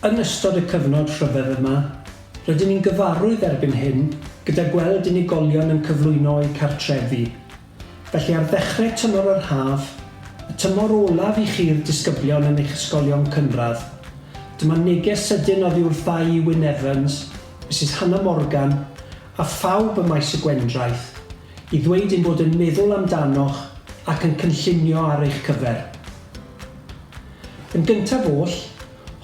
Yn ystod y cyfnod rhyfedd yma, rydyn ni'n gyfarwydd erbyn hyn gyda gweld unigolion yn cyflwyno eu cartrefi. Felly ar ddechrau tymor yr haf, y tymor olaf i chi'r disgyblion yn eich ysgolion cynradd, dyma neges sydyn oddi wrtha i Wynne Evans, Misus Hannah Morgan, A phawb ym Maes y Gwendraeth, i ddweud ein bod yn meddwl amdanoch ac yn cynllunio ar eich cyfer. Yn gyntaf oll,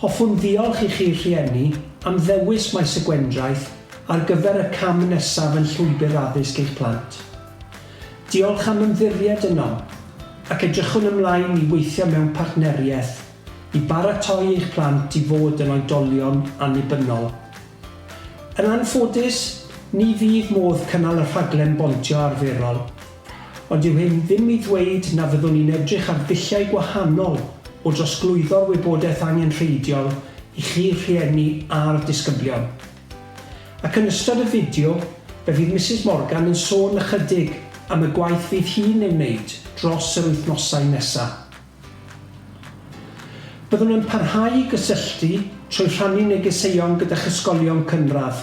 hoffwn ddiolch i chi'r rhieni am ddewis Maes y Gwendraeth ar gyfer y cam nesaf yn llwybr addysg eich plant. Diolch am ymddiried ynom, ac edrychwn ymlaen i weithio mewn partneriaeth I baratoi eich plant i fod yn oedolion annibynnol. Yn anffodus, ni fydd modd cynnal y rhaglen bontio arferol. Ond dyw hyn ddim i ddweud na fyddwn ni'n edrych ar ddulliau gwahanol o drosglwyddo'r wybodaeth angenrheidiol i chi rhieni a'r disgyblion. Ac yn ystod y fideo, fe fydd Misus Morgan yn sôn ychydig am y gwaith fydd hi'n ei wneud dros yr wythnosau nesaf. Byddwn yn parhau i gysylltu trwy rhannu negeseuon gyda'ch ysgolion cynradd,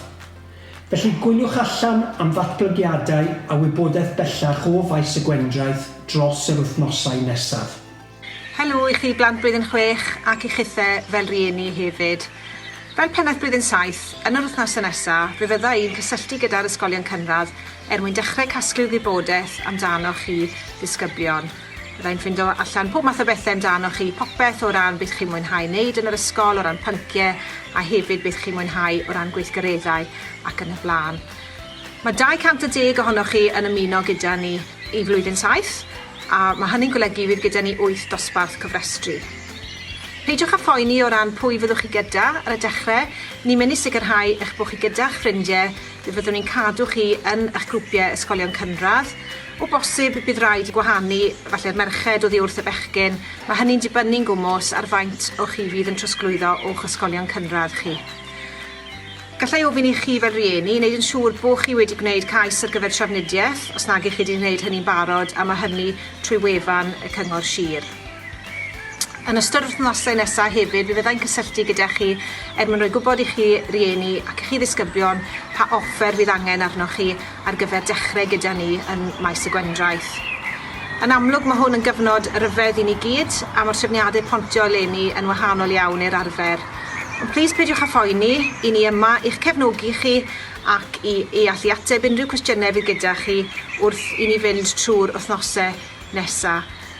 felly gwyliwch allan am ddatblygiadau a wybodaeth bellach o Faes y Gwendraeth dros yr wythnosau nesaf. Helo i chi blant blwyddyn chwech ac i chithe fel rieni hefyd. Fel pennaeth blwyddyn saith, yn yr wythnosau nesaf fe fydda i'n cysylltu gyda'r ysgolion cynradd er mwyn dechrau casglu wybodaeth amdanoch chi ddisgyblion. Byddai'n ffindo allan pob math o bethe amdanoch chi, popeth o ran beth chi'n mwynhau neud yn yr ysgol, o ran pyncie, a hefyd beth chi'n mwynhau o ran gweithgareddau ac yn y bla'n. Mae 210 ohonoch chi yn ymuno gyda ni i Flwyddyn Saith, a mae hynny'n golygu fydd gyda ni wyth dosbarth cofrestru. Peidiwch â phoeni o ran pwy fyddwch chi gyda ar y dechre, ni'n mynd i sicrhau eich bod chi gyda'ch ffrindie, fe fyddwn ni'n cadw chi yn eich grwpie ysgolion cynradd, O bosib bydd raid gwahanu falle'r merched oddi wrth y bechgyn, mae hynny'n dibynnu'n gwmws ar faint o chi fydd yn trosglwyddo o'ch ysgolion cynradd chi. Gallai ofyn i chi fel rhieni wneud yn siŵr bo chi wedi gwneud cais ar gyfer trafnidiaeth, os nag ych chi wedi gwneud hynny'n barod, a mae hynny trwy wefan y Cyngor Sir. Yn ystod yr wythnosau nesaf hefyd fe fyddai'n cysylltu gyda chi er mwyn rhoi gwybod i chi rieni ac i chi ddisgyblion pa offer fydd angen arnoch chi ar gyfer dechrau gyda ni yn Maes y Gwendraeth. Yn amlwg mae hwn yn gyfnod ryfedd i ni gyd a mae'r trefniadau pontio eleni yn wahanol iawn i'r arfer. Ond plîs peidiwch â phoeni, i ni yma i'ch cefnogi chi ac i i allu ateb unrhyw cwestiynau fydd gyda chi wrth i ni fynd trwy'r wythnosau nesaf.